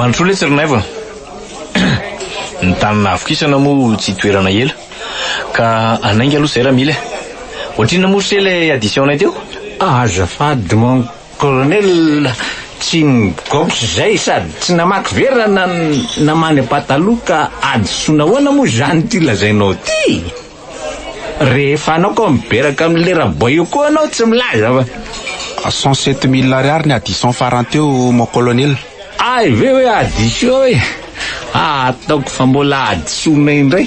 Mandrosoa letsy ry Naivo. Ny tany nahavokisana moa tsy toerana ela. Ka hanainga aloha izay raha mila. Ohatrinona moa se ilay addition-nay teo? Azafady mon Colonel, Tsy ny gauche izay sady tsy namaky vera na namany pataloha ka hadisoana ahoana moa izany ity lazainao ity? Rehefa anao ka miberaka amin'ny lera boy eo koa anao tsy milaza fa. Cent sept mille ariary ny addition farany teo mon colonel. Hay ve hoe addition e! Hahataoko fa mbola hadisoana indray.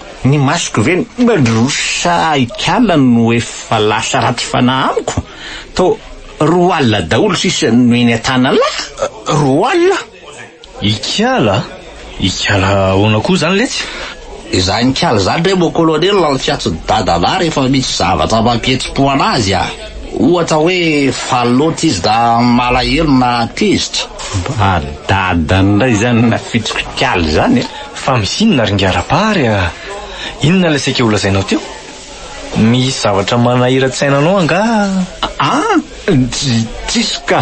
Ny masoko ve ny Bedros sa Ikala no efa lasa ratsy fanahy amiko? Toa roa alina daholo sisa no eny an-tanalahy? Roa alina? Ikala? Ikala ahoana koa izany letsy? Izany Ikala izany re mon colonel no fiantso ny dadanà rehefa misy zavatra mampihetsi-po an'azy a! Ohatra hoe faly loatra izy na malahelo na tezitra. Mba dadan indray izany nafitrok'Ikala izany e! Fa misy inona ry Ngarabary a? Inona ilay saika holazainao teo? Misy zavatra manahiran-tsaina anao angaha? Ah! Tsy tsisy ka!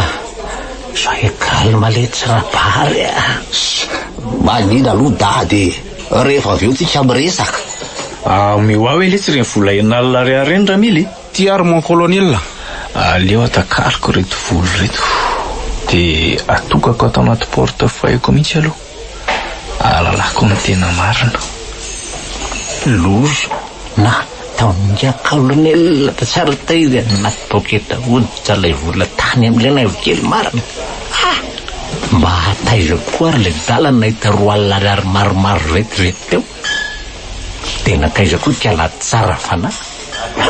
Soyez calme letsy Rabary a! Manina aloha dada e! Rehefa avy eo tsika miresaka. Ameo ahy hoe letsy ireny vola enal ariary ireny Ramily e! Ty ary mon colonel a! Aleo atakariko ireto vola ireto dia atokako ato anaty porte-feuille-ko mihitsy aloha. Alalako ny tena marina. Loza na taminga colonel tsara taiza any anaty poketa hoditra ilay vola tany amin'ilay naivo kely marina. Ha! Mba hataiza koa ary ilay dala nahita roa alina ariary maromaro vetivety teo. Dia nataiza koa ikala tsara fanahy. Ha!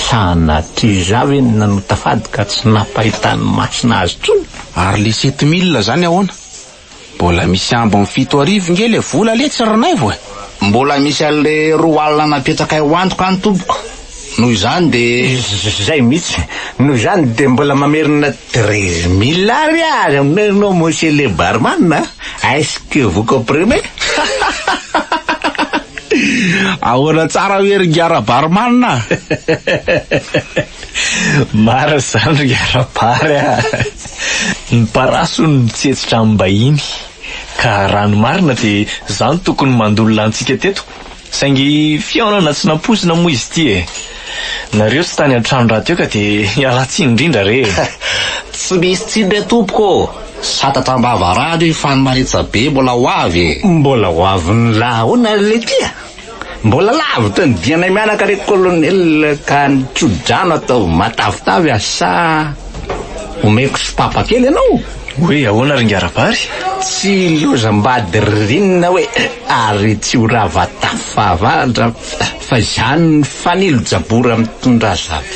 Sanatria za ve no nanota fady ka tsy nampahitan'ny masina azy intsony. Ary le sept mille zany ahoana? Mbola misy ambiny fito arivo nge le vola le tsy rinaivo e. Mbola misy anle roa alina napetrakay ho antoka any tompoko, noho izany dia. Zay mihitsy, noho izany dia mbola mamerina treize mille ariary aminay ianao monsieur le barman a, est-ce que vous comprenez? Ahoana tsara ve ry Ngara barman a? Marina izany ry Ngara bar a. Ny parasy hono mitsetsitra amim-bahiny ka raha ny marina dia za no tokony mandolona antsika teto saingy fihaonana tsy nampoizina moa izy ity e! Nareo tsy tany an-trano rahateo ka dia ialatsiny indrindra re e! Tsy misy tsiny re tompoko ô! Satatra am-bava rano iny fa ny manetsa be mbola ho avy e! Mbola ho avy ny lahaona le ty a! Mbola lavitra ny dianay mianaka re colonel ka ny tsodrano ataovy matavitavy asa omeko sopapa kely ianao? Hoe ahoana ry Ngarabary? Tsy lozam-bady ririnina hoe ary tsy ho rava tafo fahavaratra fa izany ny fanilo jabora mitondra azafady.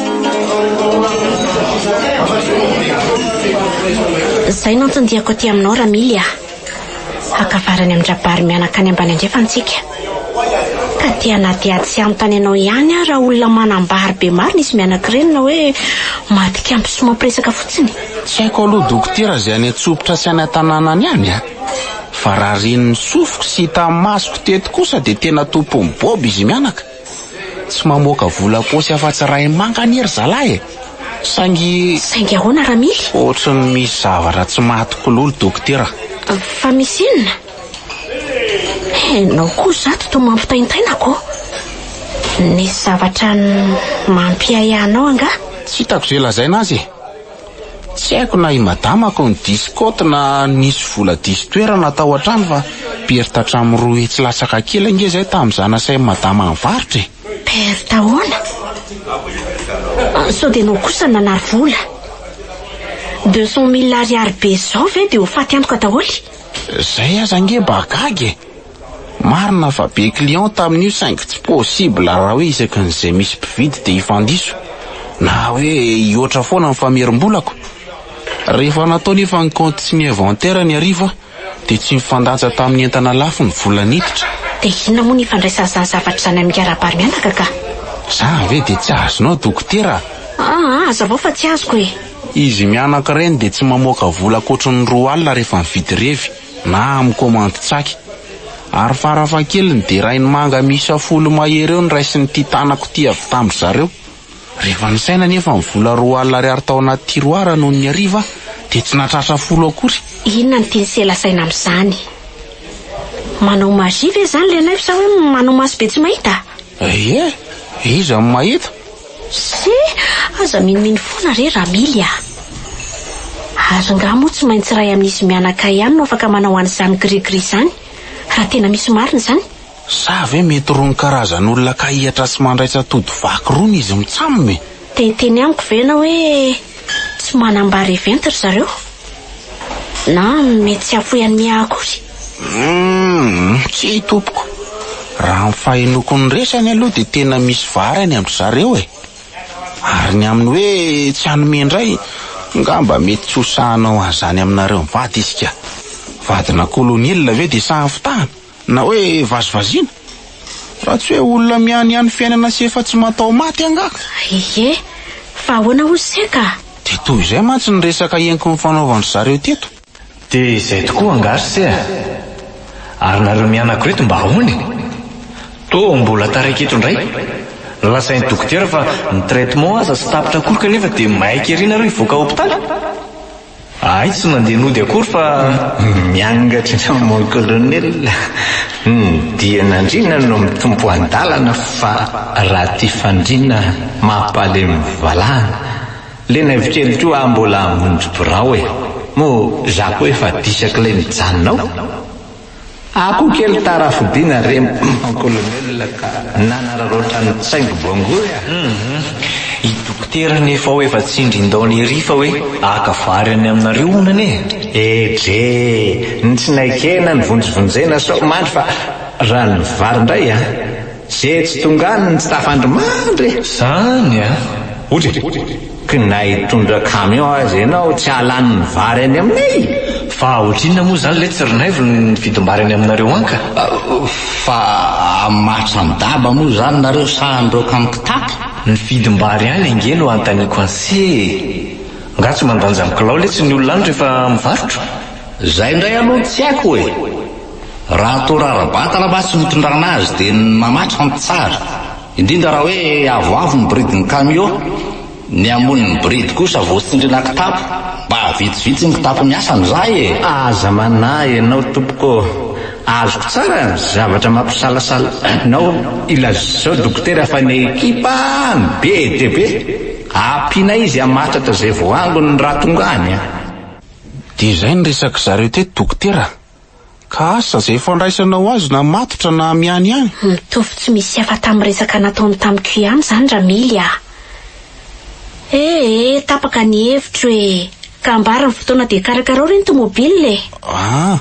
Zay no anton-diako aty aminao Ramily ah. Haka vary any amin-dRabary mianaka any ambany andrefana tsika. Ka te hanady ady sy hanontany anao ihany aho raha olona manambary be marina izy mianakireny na hoe matikambo sy mampiresaka fotsiny. Tsy haiko aloha dokotera izay any Antsompitra sy any Antananany any ah. Fa raha ren'ny sofiko sy hitan'ny masoko teto kosa dia tena tompon'ny bob izy mianaka. Tsy mamoaka vola am-paosy afa-tsy iray manga anie ry zalahy e! Saingy. Saingy ahoana Ramily? Ohatran'ny misy zavatra tsy mahatokololo dokotera. Fa misy inona? Ianao koa zato toa mampitaintaina ko. Nisy zavatra mampiahiahy anao angaha? Tsy hitako izay lazaina azy e! Tsy haiko na i madama ko ny diso côte na nisy vola diso toerana tao an-trano fa perte hatramin'ny roa hetsy latsaka kely ange izay tamin'izaho nasain'i madama nivarotra e! Perte ahoana? Sao dia ianao kosa no nanary vola? Deux cent mille ariary be izao ve dia ho faty antoka daholo? Izay aza ange mba gaga e! Marina fa be client tamin'io saingy tsy possible raha hoe isaky ny izay misy mpividy dia hifandiso na hoe hihoatra foana ny famerim-bolako. Rehefa natao nefa ny kaonty sy ny inventaire ny hariva dia tsy mifandanja tamin'ny entana lafo ny vola niditra. Dia inona moa ny ifandraisan'ny izany zavatra izany amin'ny mikarabary mianaka ka? Za ve dia tsy azonao dokotera a? Aa hazavao fa tsy azoko e! Izy mianaka ireny dia tsy mamoaka vola ankoatry ny roa alina rehefa mividy revy. na amin'ny komandy tsaky. Ary farafahakeliny dia rainimanga miisa folo mahery eo no raisin'ity tanako ity avy tamin-dry zareo. Rehefa nisaina anefa ny vola roa alina ariary tao anaty tiroara nony hariva dia tsy nahatratra folo akory. Inona no tian'i Sela saina amin'izany? Manao magie ve izany ilay anay sa hoe manao maso be tsy mahita? Ye, iza no mahita? Sé, aza minomino foana re Ramily a! Ary ngah moa tsy maintsy iray amin'izy mianakay ihany no afaka manao an'izany gris gris izany, raha tena misy marina izany? Sa ve mety rony karazan'olona kahihatra sy mandraitsa tody vaky rony izy mitsam e? Dia hiteny amiko ve ianao hoe tsy manambara event ry zareo? Na mety tsy hahafoy an'i Miaha akory? Humm tsia tompoko, raha ny fahenoako ny resany aloha dia tena misy vary any an-dry zareo e! Ary ny amin'ny hoe tsy hanome indray, ngamba mety tsy ho sahy hanao an'izany aminareo mivady izy ka! Vadina kolonelina ve dia sahy fitahana na hoe vazivaziana? Raha tsy hoe olona mihaniany fiainana sy efa tsy mataho-maty angaha ka! Ie, fa ahoana hozy se ka? Dia toy izay mantsy ny resaka henoko nifanaovan-dry zareo teto. Dia izay tokoa angaha ry se a! Ary nareo mianako reto mba ahoana e? Toa mbola taraiky eto indray? Lazain'ny dokotera fa ny traitement aza tsy tapitra akory kanefa dia maika ery nareo hivoaka hopitaly? Ahay tsy nandeha nody akory fa. Miangatrika mon colonel, ny dian'andriana no mitompo andalana fa raha tia fandriana mampalemy valahana. Le naivo kely koa ah mbola hamonjy birao e! Moa za koa efa disak lay mijanona ao? Ah koa kely tara fodiana re mon colonel ka nanararaotra ny tsaingo bongour a! Hum i dokotera nefa ao efa tsindrindaona ery fa hoe haka vary any aminareo honana e! Eh dre! Ny tsinaikena nivonjivonjena sao mandry fa rano vary ndray a! Ze tsy tonga any ny tsy tafandry mandry e! Zany a! Ory e! K na hitondra camion aza ianao tsy hahalany ny vary any aminay e! Fa ohatrinona moa zany letsy ry Naivo ny vidim-bary any aminareo an ka? Fa hamatsa ny daba moa zany nareo sa handroaka amin'ny kitapo? Ny vidim-bary any ange no hanontaniako anse e! Nga tsy mandanja ny kilao letsy ny olona any rehefa mivarotra? Zay ndray aloha tsy haiko e! Raha toa rara-batana mantsy no tondrana azy dia ny mamatroka no tsara, indrindra raha hoe avoavo ny bridin'ny kamio, ny hamonin'ny bridy kosa vao tsindriana kitapo, mba vitsivitsy ny kitapo miasa amin'izay e! Aza manahy ianao tompoko ô! Azoko tsara ny zavatra mampisalasala anao, ilazao dokotera fa ny ekipa no be dia be, ampianay izy hamatratra izay vao angony raha tonga any a! Dia izay ny resak'zareo teto dokotera a! Ka asa izay fandraisanao azy na matotra na miany ihany. Mitovy tsy misy hafa tamin'ny resaka nataony tamiko ihany izany Ramily a! E e, tapaka ny hevitro e! Ka ambara ny fotoana dia karakarao re ny tomobile e! Ah!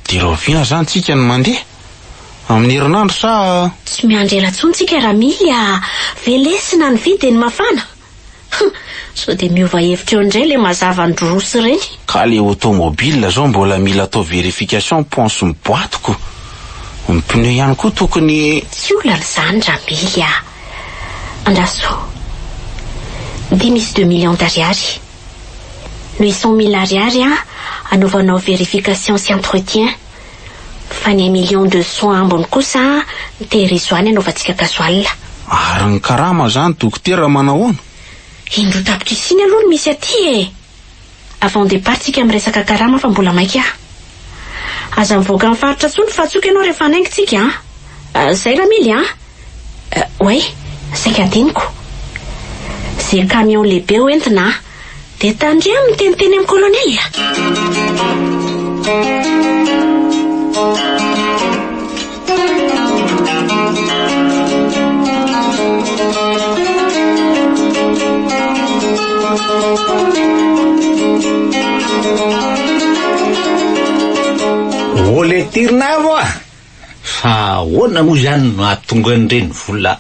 Dia rahoviana izany tsika no mandeha? Amin'ny herinandro sa? Tsy miandry ela intsony tsika Ramily a! Velesina ny vy dia ny mafana! Huh! Sao dia miova hevitra eo indray ilay mazava ny Drus ireny? Ka le automobile zao mbola mila atao verification ponce ny boite ko ny pneu ihany koa tokony. Tsy olana izany Ramily a! Andraso! Dia misy deux millions d'ariary. Noho i cent mille ariary an, anaovanao verification sy entretien. Fa ny un million de soins ambiny kosa mitery izoany anaovantsika gasoil. Ary ny karama zany dokotera manahoana? Indroa tapitrisiana aloha no misy aty e! Avant départ tsika miresaka karama fa mbola maika ah! Aza mivoaka ny faritra tsony fa tsoiko ianao rehefa hanaingo tsika an! Zay ramily an! Oay! Saika adinoko! Ze camion lehibe ho entina an! Dia tandremo miteniteny amin'ny kolonely a! Ô le tirina avo a! Fa ahoana moa izany no hahatonga an'ireny vola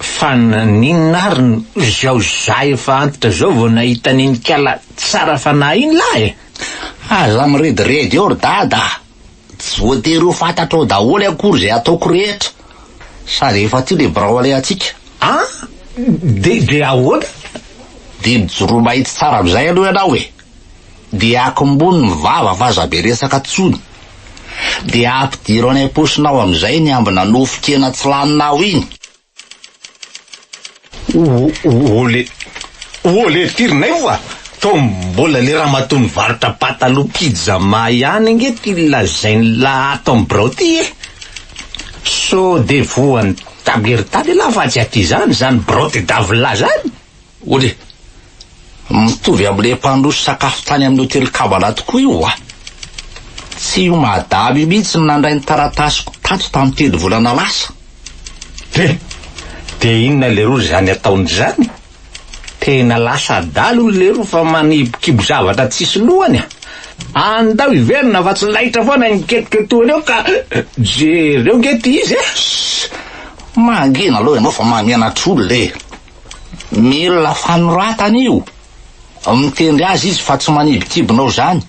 Fa naninona ary no izao za efa antitra zao vao nahita an'iny kala tsara fanahy iny lah e! Aza mirediredy eo ry dada a! Tsy voatery ho fantatrao daholo akory izay ataoko rehetra sady efa tia le birao alehantsika. An! Dia ahoana? Dia mijoroa mahitsy tsara amin'izay aloha ianao e! Dia akombony ny vava fa aza be resaka tsony. Dia ampidiro any am-posonao amin'izay ny ambina nofon-kena tsy laninao iny. Olé, olé firy nay oa! Tao mbola le ramatoa nivarotra pataloha pyjama ihany ange ty lazainy la ato am birao ty e! Sao de voan'ny table ery tany elah fa tsy aty zany zany birao de davla zany? Ory, mitovy amin'ilay mpandroso sakafo tany amin'ny hotely Kabbalah tokoa io wa? Tsy io madama io mihitsy no nandray ny taratasiko tato tamin'ny telo volana lasa. He, dia inona leroa izany ataony izany? Tena lasa adala hono leroa fa manibokibo zavatra tsisy lohany a! Andao hiverina fa tsy laitra foana io miketrika toa an'io ka jereo nge ty izy a! Shh! Mangina aloha ianao fa mahamenatra olona e! Mila fanoratana io. Mitendry azy izy fa tsy manibikibina ozany.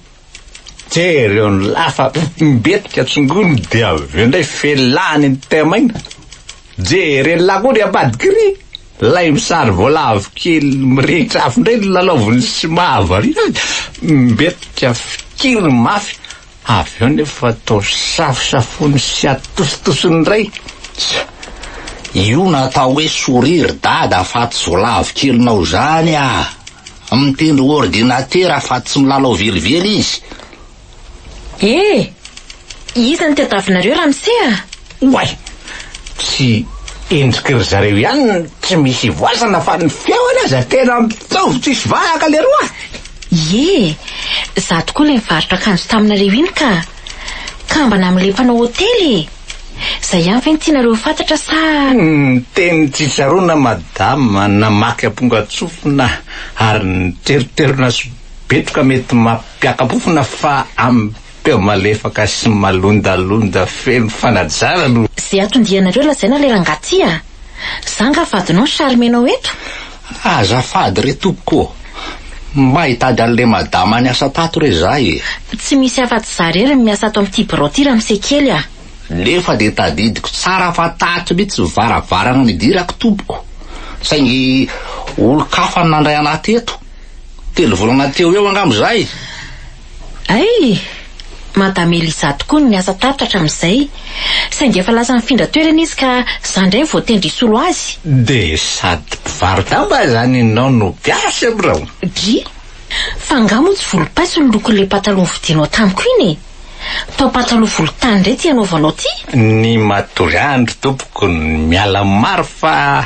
Jereo ny lafa mbetika tsongony dia avy eo ndray felany ny thème iny. Jereo ny lakoly ambadiky ry lay misary voalavo kely mirehitra afo ndray ny lalaoviny sy mahavariana azy. Mbetika fikiriny mafy. Avy eo nefa atao safosafoiny sy atositosiny indray. Tsa! Io no atao hoe sourire ry dada afatsy zo lavo kelinao zany a! Mitendry ordinatera afatsy tsy milalao velively izy. Eh! Iza no tadiavinareo ramose a! Oay! Tsy endriky ry zareo ihany no tsy misy ivoasana fa ny feony aza tena mitovy tsisy vahaka leroa! Ie, za tokoa ilay nivarotra akanjo taminareo iny ka! Kambana amin'ilay mpanao hotely e! Zay ihany ve no tianareo ho fantatra sa? Niteny tsitsaroana madama namaky ampongan-tsofina ary niteriterona sobetroka mety mampiaka-pofona fa amin'ny Teo malefaka sy malondalonda feno fanajana no. Ze atondianareo lazaina le rangah ty a! Za nga vadinao ny charmenao eto? Azafady re tompoko ô! Mba hitady anle madama niasa tato re za e! Tsy misy afatsy za rery no miasa ato amty birao ty ramose kely a! Nefa de tadidiko tsara fa tato mitsy varavarana nidirako tompoko saingy olon-kafa no nandray anah teto, telo volana teo eo angamba zay. Hay! Madame Elisa tokoa no niasa tato hatramin'izay. Saingy efa lasa nifindra toerana izy ka za indray no voatendry hisolo azy. Dia sady mpivaro-damba izany ianao no gasy amin'ireo? Dry! Fa angaha moa tsy volom-paiso ny lokon'ilay pataloha novidianao tamiko iny e? Papa-taloha volontany indray ity anaovanao ity? Ny matoa andry tompoko ny miala maro fa.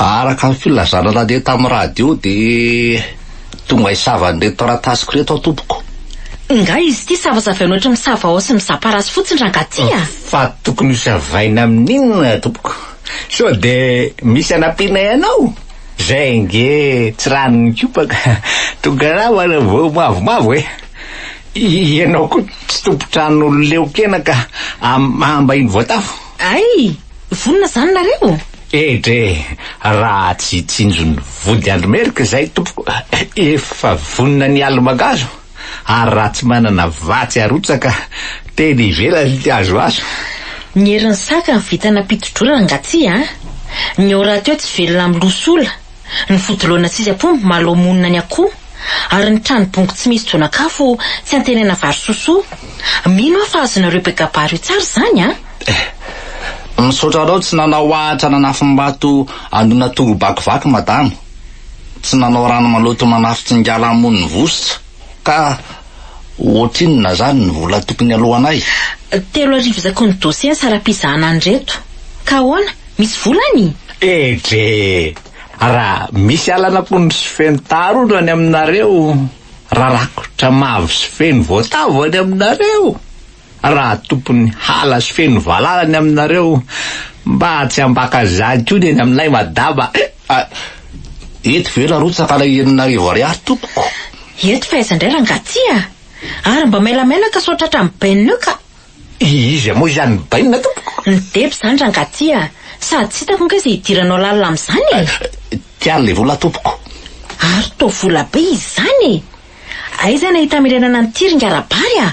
Araka ny filazana nandeha tamin'ny radio dia tonga hisava an'ireto taratasiko ireto aho tompoko. Ingahy izy ity savasavaina ohatry ny savao sy ny zaparasy fotsiny rangaha ty a! Fa tokony hosavaina amin'inona tompoko? Sao dia misy anampianay anao? Izay ange tsy ran'ny kopaka tonga ravana vao mavomavo e! Ianao koa tsy tompon-trano leokena ka ambahiny voatafo? Ay! Vonona zany nareo? Eh dre! Raha tsy tsinjon'ny vody andry merika izay tompoko efa vonona ny aly mangazo ary raha tsy manana vatsy arotsaka teny ivelany ny azoazo. Ny herin'ny saka ny vintana mpitodrona angatsiahy a! Ny ora teo tsy velona amin'ny loha sola. ny fodoloana tsy izy ampombo malao monina ny akoho, ary ny trano bongo tsy misy jonakafo tsy antenaina vary sosoa. Mino aho fa azonareo be gabary io tsara izany an! Eh! Misaotra anao tsy nanao ahitra nanafim-bato hanona tongo bakivaky madama, tsy nanao rano maloto manafin-tsingala hamono ny vositra. Ka ohatrinona zany ny vola tokony aloanay? Telo arivo zakony dossier ny saram-pizahana an'ireto. Ka ahoana? Misy vola any? Edre! Raha misy alan'aponga sy feno taharondro any aminareo, raha rakotra mavo sy feno voatavo any aminareo, Raha tompon'ny hala sy feno valala ny aminareo mba tsy hambaka zany koa ny eny aminay madama eh! Ah, eto ve narotsaka ilay enin'arivo ariary tompoko? Eto fa aiza indray rangah ty ah! Ary mba mailamailaka sao tratra ny bainina eo ka! Iza moa izany ny bainina tompoko? Ny deba izany rangah ty ah! Sady tsy hitako ange izay hidiranao lalina amin'izany eh! Ty ary ilay vola tompoko! Ary toa vola be izany eh! Aiza ny ahita mirenana an'ity ry ngah Rabary ah!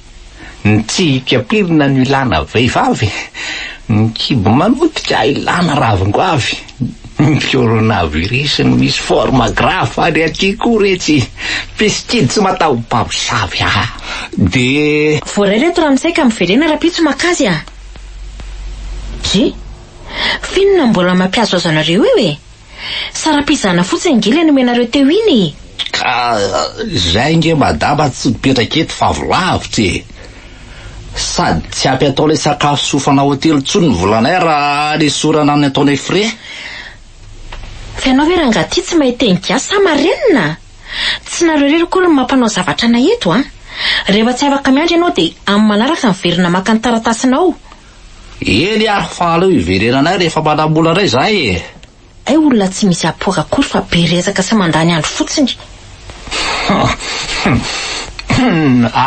Ny tsy ipiampirina no ilana vehivavy, ny kibo manotika ilana ravin-goavy, ny coronavirus no misy forme grave ary aty koa retsy pistide tsy mataho mpamosavy aa de. Voaray reto ramose ka miverena rapitso makazy a. Dry. Finona mbola mampiazoazo anareo eo e. Saram-pizahana fotsiny ange ilay nomenareo teo iny e! Ka izay ange madama tsy mipetraka eto fa avy lavitra e! Sady tsy ampy atao ilay sakafo sy hofana hotely intsony ny volanay raha anesorana ny ataonay frais. Fa ianao ve rangahy ity tsy mahay teny gasy sa marenina? Tsy nareo irery akory no mampanao zavatra anay eto a! Rehefa tsy afaka miandry ianao dia amin'ny manaraka miverina maka ny taratasinao. Eny ah, fa aleo hiverenanay rehefa manambola indray izahay e! Hay olona tsy misy apport akory fa be resaka sy mandany andro fotsiny.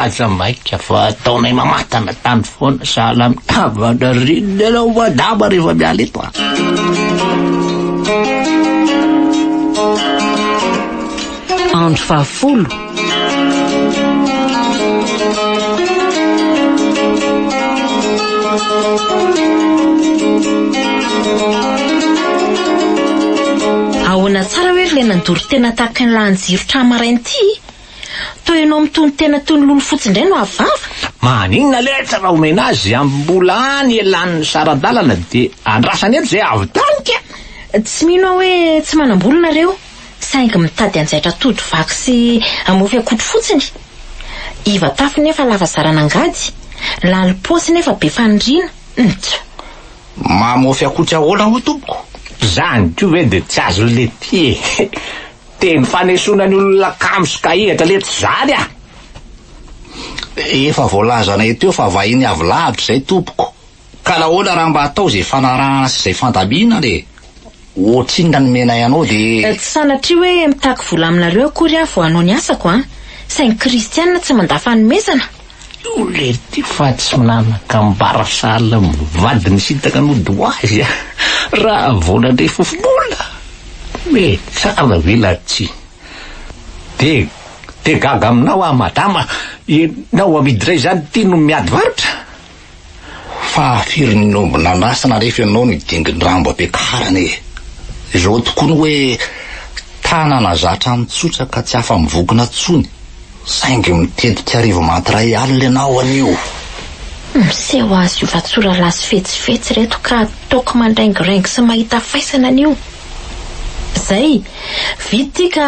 Aza maika fa ataonay mamatana tany foana sahala amin'ny havana reny ianao madama rehefa miala eto a! Andro fahafolo. Ahoana tsara hoe ry ilay nandoro tena tahaka ny lahin'i Jiro tra maraina ity? Toa ianao mitonon-tena toy ny lolo fotsy indray no ahavava? Maninona letra raha omena azy amin'ny mbola any elan'ny saran-dalana dia andrasany eto izay avy tany ka! Tsy mino aho hoe tsy manam-bola nareo. saingy mitady hanjaitra tody vaky sy hamofy akotry fotsiny. Iva tafy nefa lava zarana angady, lalo paosy nefa be faniriana, ntsoo. Mamofy akotry ahoana hoy tompoko? Zany koa ve dia tsy azo lety e! Teny fanesoana ny olona kamo sy kahihatra letsy zany ah! Efa voalazanay teo fa vahiny avy lavitra izay tompoko. Ka nahoana raha mba atao izay fanarahana sy izay fandamina dia ohatrinona ny menay anao dia. Tsy sanatria hoe mitaky vola aminareo akory aho vao hanao ny asako an! Saingy kristianina tsy mandà fanomezana! Io lety fa tsy nanakambara sahala amin'ny vady nisintaka nody ho azy an! Raha vao nandre fofobola! Hoe tsara ve na tsia! Dia dia gaga aminao aho madama! Ianao amidy indray izany ity no miady varotra? Fahafiry ny omby nandrasana rehefa ianao ny dingin-drambo ampiakarana e! Izao tokoa ny hoe tanana zatra mitsotra ka tsy afa-mivokona intsony saingy mitetika hariva maty iray alina ianao anio. Miseho azy io ratsoralahy sy fetsifetsy ireto ka toaka mandraingoraingo sy mahita faisana anio. Izay, vita ity ka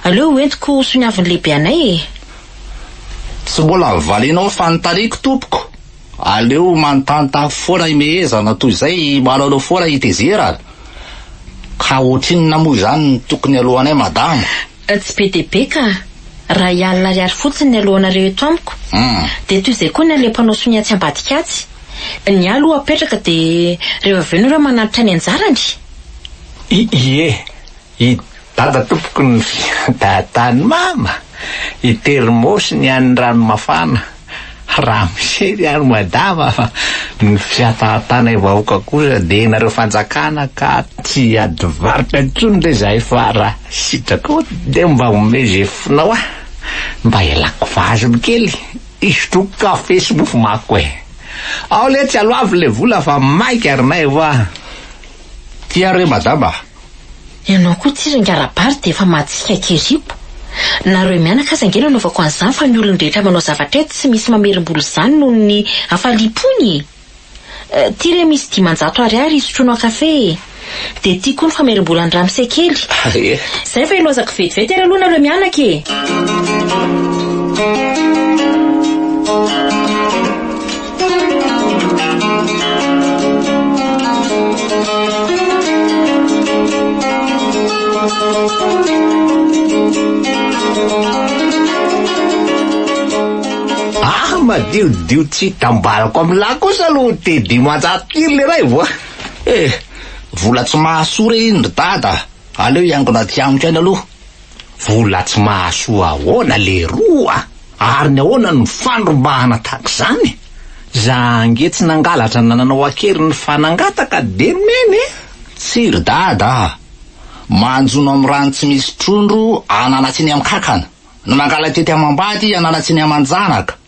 aleo hoentiko ho soniavin'ny lehibe anay e! Tsy mbola novalinao fanontaniako tompoko, aleo manontanta foana i Mehezana toy izay manao foana i Tezera a! Ka ohatrinona moa izany no tokony alohanay madama? Tsy be dia be ka! Ray alina ariary fotsiny ny alohanareo eto amiko, dia toy izay koa ny an'ilay mpanao sonia atsy ambadika atsy. Ny ahy aloha apetraka dia rehefa avy eo ny iray manantitra ny anjarany! Ie, I Dada tompoko ny fiadatany mama i termosy ny an'ny rano mafana raha misery any madama fa ny fiatatanay vahoaka kosa dia nareo fanjakana ka tsy ady varotra intsony re zahay fa raha sitraka dia mba omeo ze fonao ah mba ialako vazim kely isotroako kafe sy mofo mako eh ao le tsy aloavy le vola fa maika ry nay hoa tia re madama Ianao koa tsy ringa ara-bary dia efa mahatsikaiky hiripo. Nareo mianaka aza ange no anaovako an'izany fa ny olon-drehetra manao zavatra eto tsy misy mamerim-bola izany noho ny hafaliam-pony e! Ty re misy dimanjato ariary hisotroanao kafe e! Dia ty koa ny famerim-bolan'ny ramose kely. Izay fa ilozako vetivety ary aloha nareo mianaka e! Ah madiodio tsy hitambarako amin'ny lahy kosa aloha te dimanjato kilo le raivo a eh vola tsy mahasoa re iny ry dada aleo hiangona tsy amiko any aloha Vola tsy mahasoa ahoana leroa a! Ary ny ahoana no fandrombahana tahaka izany? Za ange tsy nangalatra na nanao an-keriny fa nangataka dia nomena e! Tsy ry dada a! Manjono amin'ny rano tsy misy trondro anana tsy ny amin-kankana, no mangala tety amam-bady anana tsy ny aman-janaka.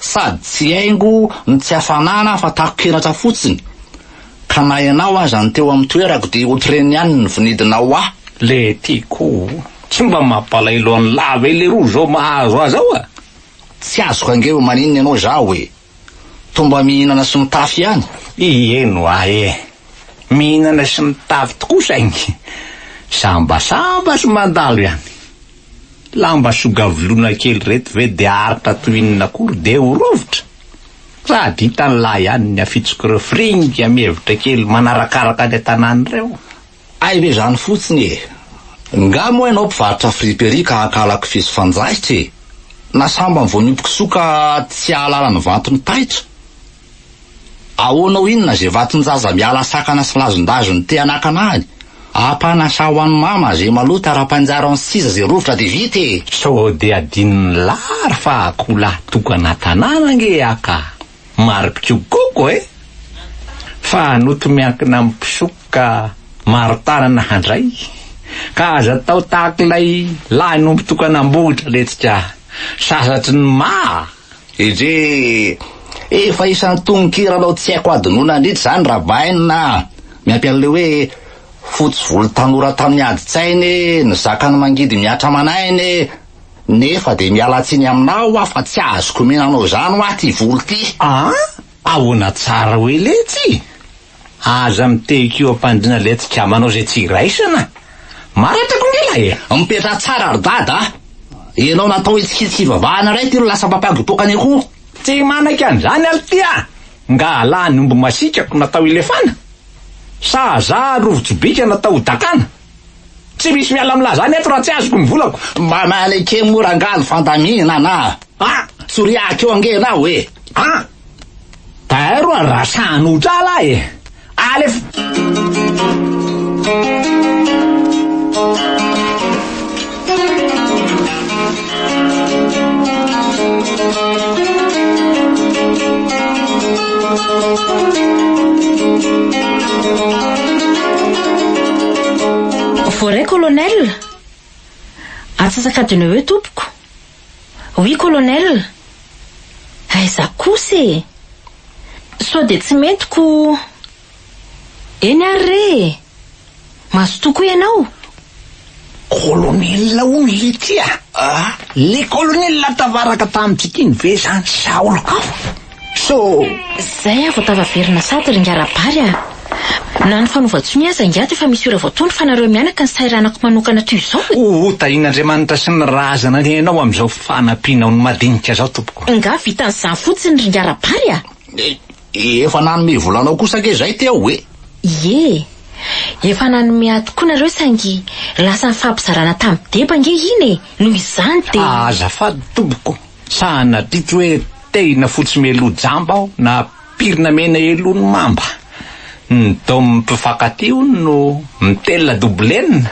Sady tsy haingo no tsy hafanana fa takon-kenatra fotsiny, ka na ianao aza no teo amin'ny toerako dia otrreny ihany ny vinidinao ahy. Letiko, tsy mba mampalahelo an'i lah ve leroa zao mahazo ahy zao a! Tsy azoko ange hoe maninona ianao izaho e! Toa mba mihinana sy mitafy ihany? Ie no ahy e! Mihinana sy mitafy tokoa saingy sambasamba sy mandalo ihany. Lamba sogavolona kely reto ve de aritra toy inona akory de ho rovitra? Sady hitan'i lahy ihany ny afitsok'ireo fringa mihevitra kely manarakaraka any an-tanàna ireo. Hay ve izany fotsiny e! Ngah moa ianao mpivarotra fripe ery ka hankala kofehy sy fanjaitra e! Na sambany vao niompy kisoa ka tsy hahalala ny vanton'ny taitra? Ahoana ho inona ze vatonjaza miala sakana sy lazondazo ny te hanakana any? Apana sa ho an'i mama ze maloto ara-panjaro an'i siza ze rovitra de vita e! Sao de adinon'i lary fa akoholahy tokana tanàna ange aho ka! Maripiko koko e! Fa hanoto miankina amin'ny mpisoka maro tanana handray ka aza atao tahak'ilay lahy nompo tokana Ambohidralentsika sasatry ny maha! EJ, Efa isan'ny tononkiranao tsy haiko hadinoina an'ity izany Rabaina a! Miampy an'ilay hoe fotsy volo tanora tamin'ny adin-tsainy e, nizaka ny mangidy mihatra aman'aina e, nefa dia miala tsiny aminao aho fa tsy azoko omena anao izany hoa ity volo ity. Aa! Ahoana tsara hoe letsy? Aza mitehiko eo am-pandriana letsy ka manao izay tsy iraisana. Maratako nge lahy e! Mipetraha tsara ry dada a! Ianao natao hitsikitsiky hivavahana iray ty no lasa mpampiagopoka ny akoho. Tsy manaiky an'izany aho ty a! Ngalah ny omby masiaka ko natao hilefana? Sa za rovitsobika natao hodakana? Tsy misy miala amin'la zany eto raha tsy azoko ny volako. Mba maneke mora angaha ny fandaminana a! Ah! Tsoriahiko eo ange ianao e! Ah! Taero a! Raha sahanao ho drala aho e! Alefa! Voaray colonel? Antsasakadiny eo eo tompoko. Oui colonel. Aiza kosa e? Sao dia tsy mety ko. Eny ary re e! Mazotoa koa ianao? Kolonela hono le ty a! Ah! Le kolonela tavaraka tamintsika iny ve zany sa olon-kafa? So! Zay aho vao tafaverina sady ry ingahy Rabary a! Na ny fanaovan-tsonia aza ingahy dia efa misy ora vao tondro fa nareo mianaka ny sairanako manokana toy izao e! Ho tahian'Andriamanitra sy ny razana ny anao amin'izao fanampianao ny madinika zao tompoko. Ingahy vita an'izany fotsiny ry ingahy Rabary a! Dia efa nanome vola anao kosa ange izay Téo e! Ie! Efa nanome ahy tokoa nareo saingy lasa nifampizarana tamin'i Deba ange iny e! Noho izany dia. Ah azafady tompoko, sa nadritra hoe tehina fotsy meloa jamba aho na pirina mena eloan'ny mamba? Ny dômy mpifankatia hono no mitelina doblena,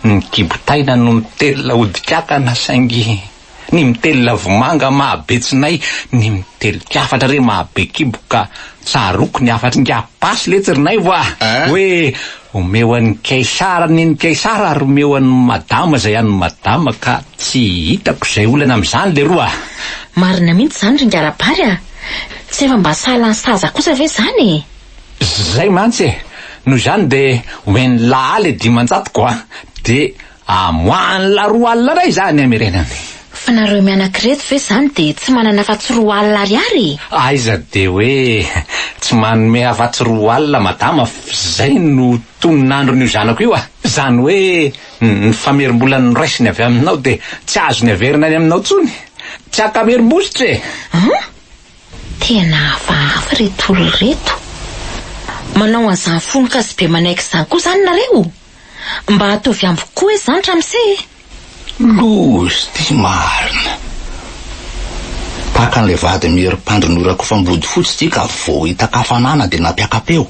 ny kibo taina no mitelina odi-kankana saingy. Ny mitelina vomanga maha be tsinay Ny mitelik afatra re maha be kibo Ka tsaroako ny hafatr ingahy Basy letsy ry naivo ah Hoe omeo an' ny Kaisara ny an' ny Kaisara Ary omeo an' ny Madama izay an' ny Madama Ka tsy hitako izay olana amin' izany leroa ah. Marina mihitsy izany ry Ngarabary a! Tsy efa mba sahala ny saza kosa ve izany e! Zay mantsy e! Noho izany dia omen'i Lahaly dimanjato ko a! Dia Amoahany la roa alina ndray za any amireny any. Fa nareo mianak'ireto ve zany de tsy manana afatsy roa alina ariary e? Aiza de hoe tsy manome afatsy roa alina madama f'zay no tonon'andron'io zanako io a! Zany hoe ny famerimbola noraisiny avy aminao de tsy azony averina any aminao tsony? Tsy ankamerim-bositra e! An! Tena hafahafa reto olona reto. Manao an'izany fonon-kazo be manaiky izany koa izany nareo? Mba ataovy amiko koa izany ramose e! Lozy ty marina. Tahaka an'ilay vady mihery mpandry norakofam-body fotsy ty ka vao hita kafanana dia nampiaka-peo.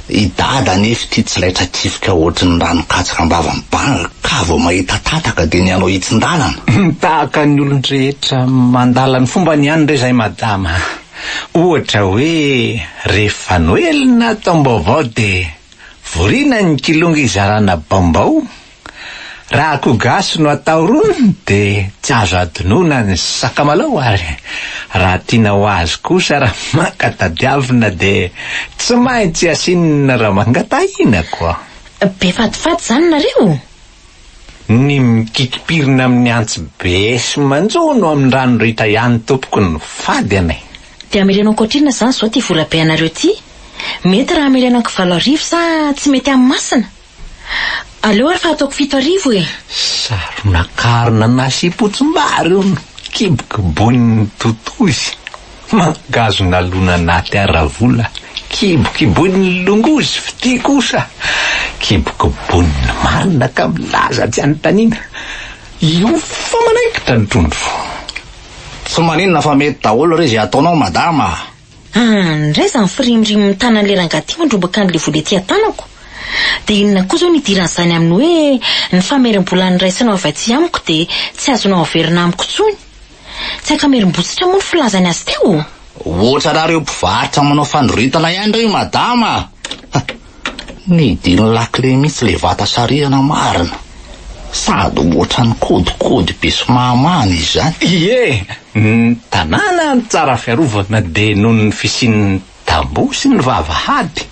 I Dada anefa ity tsy laitra kifika ohatry ny ranon-katsaka am-bava mibanga ka vao mahita tataka dia ny hanao hitsin-dalana. Tahaka ny olon-drehetra mandala ny fombany ihany re izay madama. Ohatra hoe rehefa noely na taom-baovao dia. Vorina ny kilonga izarana bambao, raha akoho gasy no atao rony dia tsy azo adinoina ny sakamalao ary raha tiana ho azy kosa raha maka tadiavina dia tsy maintsy asiana ramangatahina koa. Be fatifaty zany nareo? Ny mikitipirina amin'ny antsy be sy manjono amin'ny rano ritra ihany tompoko no fady an e! Dia ameleno ankoatr'inona izany izao ity vola be anareo ity? Mety raha ameleno ankivalo arivo sa tsy mety amin'ny masina? Aleo ary fa ataoko fito arivo e! Saronakarona nasiam-potsimbary hono, kibokiboin'ny totozy. Mangahazo nalona anaty haravola kibokiboin'ny longozy fitia kosa kibokiboin'ny marina ka milaza tsy anontaniana io fa manaikitra ny trondro. Tsy maninona fa mety daholo re izay ataonao madama a! An, indray izany firimirimin'ny tanan'ilay rangahy ity mandrombaka an'ilay vola ety an-tanako. Dia inona koa izao no idiran'izany amin'ny hoe ny famerim-bola niraisana ho avy aty amiko dia tsy azonao averina amiko intsony? Tsy ankamerim-botsitra moa ny filazany azy teo? Ohatrana reo mpivarotra manao fanoretana ihany reo madama a! Nidiny lakile mihitsy le vata sarihana marina. Sady ohatrany kôdikôdy be sy mahamana izany. Ie, ny tanàna no tsara fiarovana dia noho ny fisian'ny Tamboho sy ny vavahady.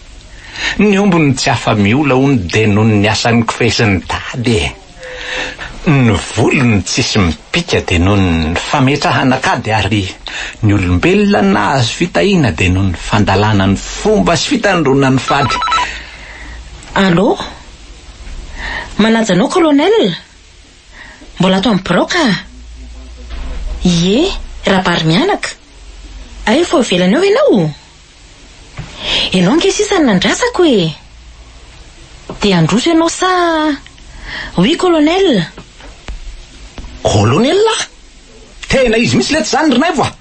Ny omby no tsy afa-miola hono dia noho ny asan'ny kofehy sy ny tady e! Ny volo no tsisy mipika dia noho ny fametrahana kady ary ny olombelona nahazo fitahiana dia noho ny fandalana ny fomba sy fitandroana ny fady. Allô? Manaja anao Colonel? Mbola ato amin'ny birao ka! Ie, Rabarimianaka! Aivo ao ivelany ao ianao? Ianao ange sisa no nandrasako e! Dia handroso ianao sa? Oui, Colonel! Colonel? Tena izy mihitsy letsy izany ry Naivo a!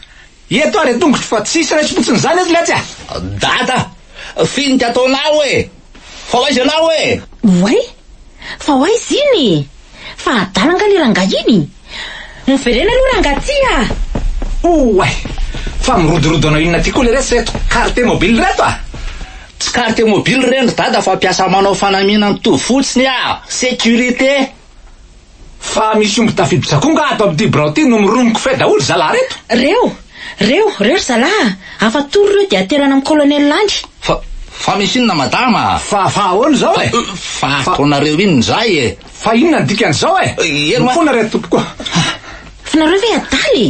Eto ary an-tongotro fa tsisy raiso fotsiny izany eto leitsy a! Dada, finika ataonao e! Fa ho aiza ianao e? Oay! Fa ho aiza iny e? Fa adala angaha le rangahy iny? Miverena aloha rangaha ty a! Oay! Fa mirodorodo hanao inona aty koa le resy reto carte mobile reto a! Tsy carte mobile ireny ry dada fa mpiasa manao fanamiana mitovy fotsiny a! Sécurité! Fa misy omby tafiditra-koa nga ato amin'ity birao ity no mironoko fay daholo zalahy reto? Reo! Reo! Reo ry zalahy a! Afa tory reo dia aterana amin'ny colonel any! Fa, fa misy inona madama a? Fa, fa ahoana izao e? Fa ataonareo inona izay e? Fa inona ny dikan'izao e? Eny wa! Mifoana ry a tompoko a! Fa nareo ve adala e?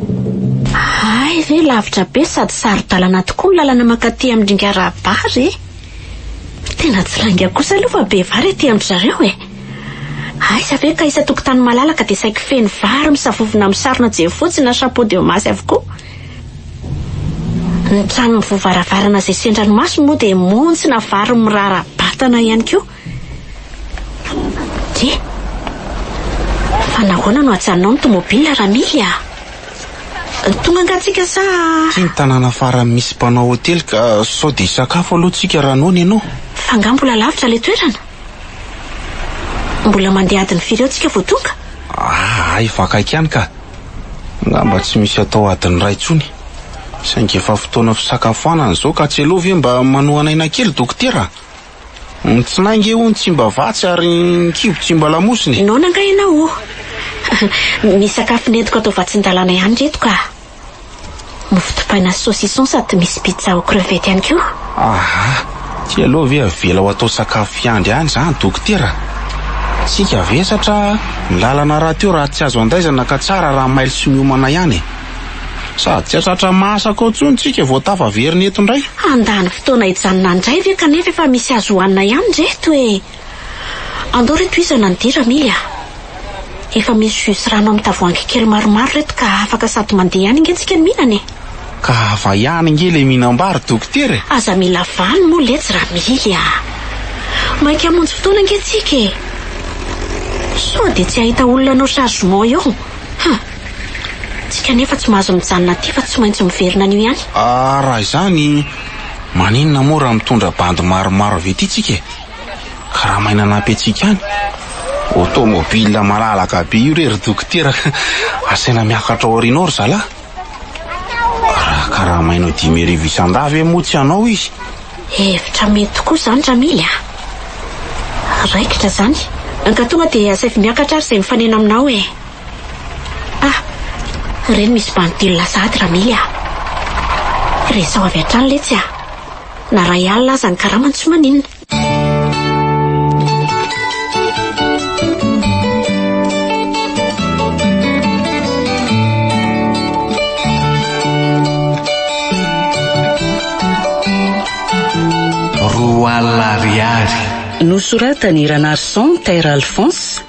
Hay ve lavitra be sady saro-dalana tokoa ny lalana mankaty amin'ny Ringarabary e! Tena tsy lainga kosa aloha fa be vary aty amin-dry zareo e! Aiza ve ka isan-tokotany malalaka dia saiky feno vary misavovona amin'ny sarona jefotsy na chapeau de masy avokoa? Ny trano mivoha varavarana izay sendran'ny maso moa dia montsina vary mirara-batana ihany koa. Dia? Fa nahoana no ajanonao ny tomobilina Ramily a? Tonga angaha tsika sa? Ity ny tanàna farany misy mpanao hotely ka sao dia hisakafo aloha tsika raha noana ianao. Fa angaha mbola lavitra ilay toerana? Mbola mandeha adiny firy eo tsika vao tonga? Aa efa akaiky ihany ka! Angamba tsy misy atao adiny iray intsony. Saingy efa fotoana fisakafoanana izao ka tsy aleo ve mba manohana aina kely dokotera a? Ny tsinay nge hono tsy mba vatsy ary ny kibo tsy mba lamosina e. Noana nga ianao o. Misy sakafo nentiko atao vatsin-dalàna ihany reto ka. Mofo dipaina sy saucisson sady misy pizza aux crevettes ihany koa. Aha, ty aloha ve avela ho atao sakafo fiandry any zany dokotera? Tsika vesatra ny lalana rahateo raha tsy azo andaizana ka tsara raha mailo sy miomana ihany e. Sady tsy hahatratra mahasak ao intsony tsika vao tafaverina eto indray. Handany fotoana hijanona indray ve kanefa efa misy azo hohanina ihany re eto e! Andao re tohizana ny dira Mily a! Efa misy jus sy rano amin'ny tavoahangy kely maromaro reto ka afaka sady mandeha ihany ange tsika no mihinana e! Ka ava ihany ange ilay mihinam-bary dokotera e! Aza mila vano moa letsy ra Mily a! Maika hamonjy fotoana ange tsika e! Sao dia tsy hahita olona hanao chargement eo? Huh! Tsika anefa tsy mahazo mijanona aty fa tsy maintsy miverina anio ihany. Ah raha izany maninona moa raha mitondra bandy maromaro avy aty tsika e? Karama aina anampy antsika any. Automobile malalaka be io re ry dokotera ka asaina miakatra ao aoriana ao ry zalahy. Raha karama aina dimy arivo isan-dahy ve moa tsy hanao izy? Hevitra mety tokoa izany Ramily a! Raikitra izany. Ankatoa dia asaivo miakatra ary izay mifanena aminao e! Ah! Reny misy bandy telo lasa aty Ramily ah! Resaho avy hatrany letsy ah! Na ray alina aza ny karamany tsy maninona. Roa alina ariary. Nosoratan'i Ranarison Taire Alphonse.